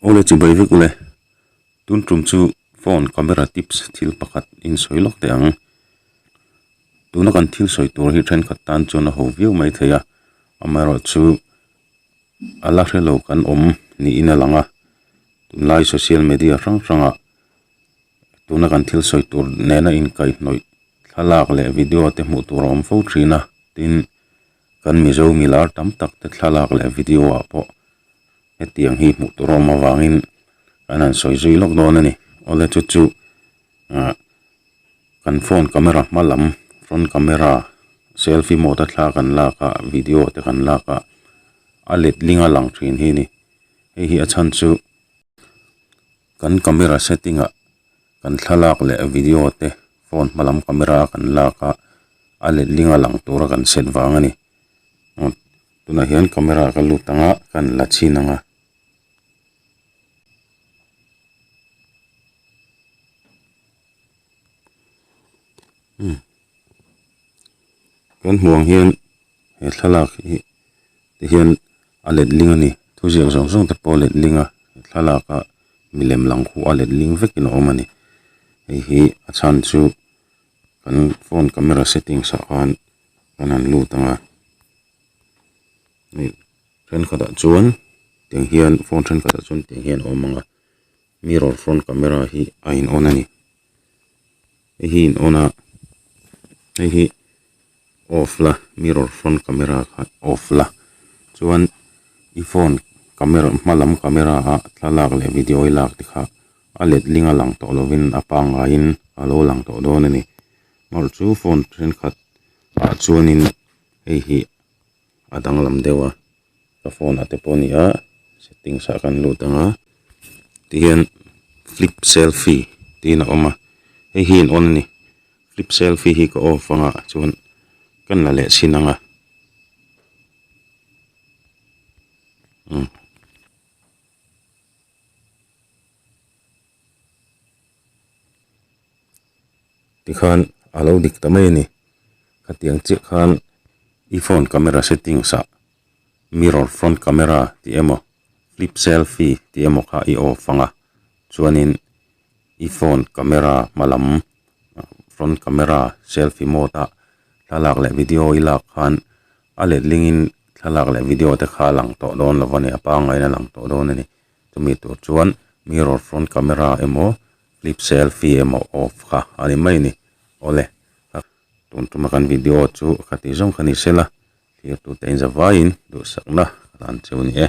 Awle chu bai vek ule tun tum chu phone camera tips thil pakhat in sawi lawk teh ang tuna kan thil sawi tur hi thenkhat tan chuan a ho viau mai thei a amaherawh chu a la hrelo kan awm niin a lang a tunlai social media hrang hrangah-- tuna kan thil sawi tur nena inkaihnawih thlalak leh video te hmuh tur a awm fo thin a tin kan mizo mi lar tam tak te thlalak leh video ah pawh hetiang hi hmuh tur a awm avangin kan han sawi zui lawk dawn a ni aw le chu chu ah kan phone camera hma lam front camera selfie mode a thla kan lak a video te kan lak ah a let ling a lang thin hi a ni hei hi a chhan chu-- Kan camera setting ah kan thlalak leh video te phone hma lam camera a kan lak a, a letling a lang tur a kan set vang a ni. Aw, tunah hian camera ka lut ang a, ka han la chhin ang a. Umm. Kan hmuh ang hian he thlalak hi te hian a letling a ni. Thuziak zawng zawng te pawh a letling a, he thlalaka milem lang khu a letling vekin a awm a ni. Hei hi a chhan chu kan phone camera settings ah khan kan han lut ang a, hei thenkhatah chuan tiang hian phone thenkhatah chuan tiang hian a awm ang a, mirror front camera hi a in on a ni. hei hi in on a hei hi off la mirror front camera kha off la chuan i phone camera hma lam camera ah thlalak leh video i lak tikha a let ling a lang tawh lovin a pangngai in a lo lang tawh dawn a ni amaherawhchu phone thenkhat ah chuanin hei hi-- A danglam deuha ka phone ah te pawh nia settings ah kan lut anga tihian flip selfie tiin a awm a hei hi in on a ni flip selfie hi ka off anga chuan kan la leh chhin anga umm tikhan a lo dik ta mai a ni hetiang chiah khan i phone camera settings ah mirror front camera tih emaw flip selfie tih emaw kha i off ang a chuanin i phone camera hma lam front camera selfie mode ah thlalak leh video i lak khan a let lingin thlalak leh video te kha a lang tawh dawn lo va ni a pangain a lang tawh dawn a ni chumi tur chuan mirror front camera emaw-- clip selfie emaw off kha a ni mai ni awle ka tun tuma kan video chu a kha tih zawng kha ni sela thirtute inzavaiin duhsakna ka dan che a ni e.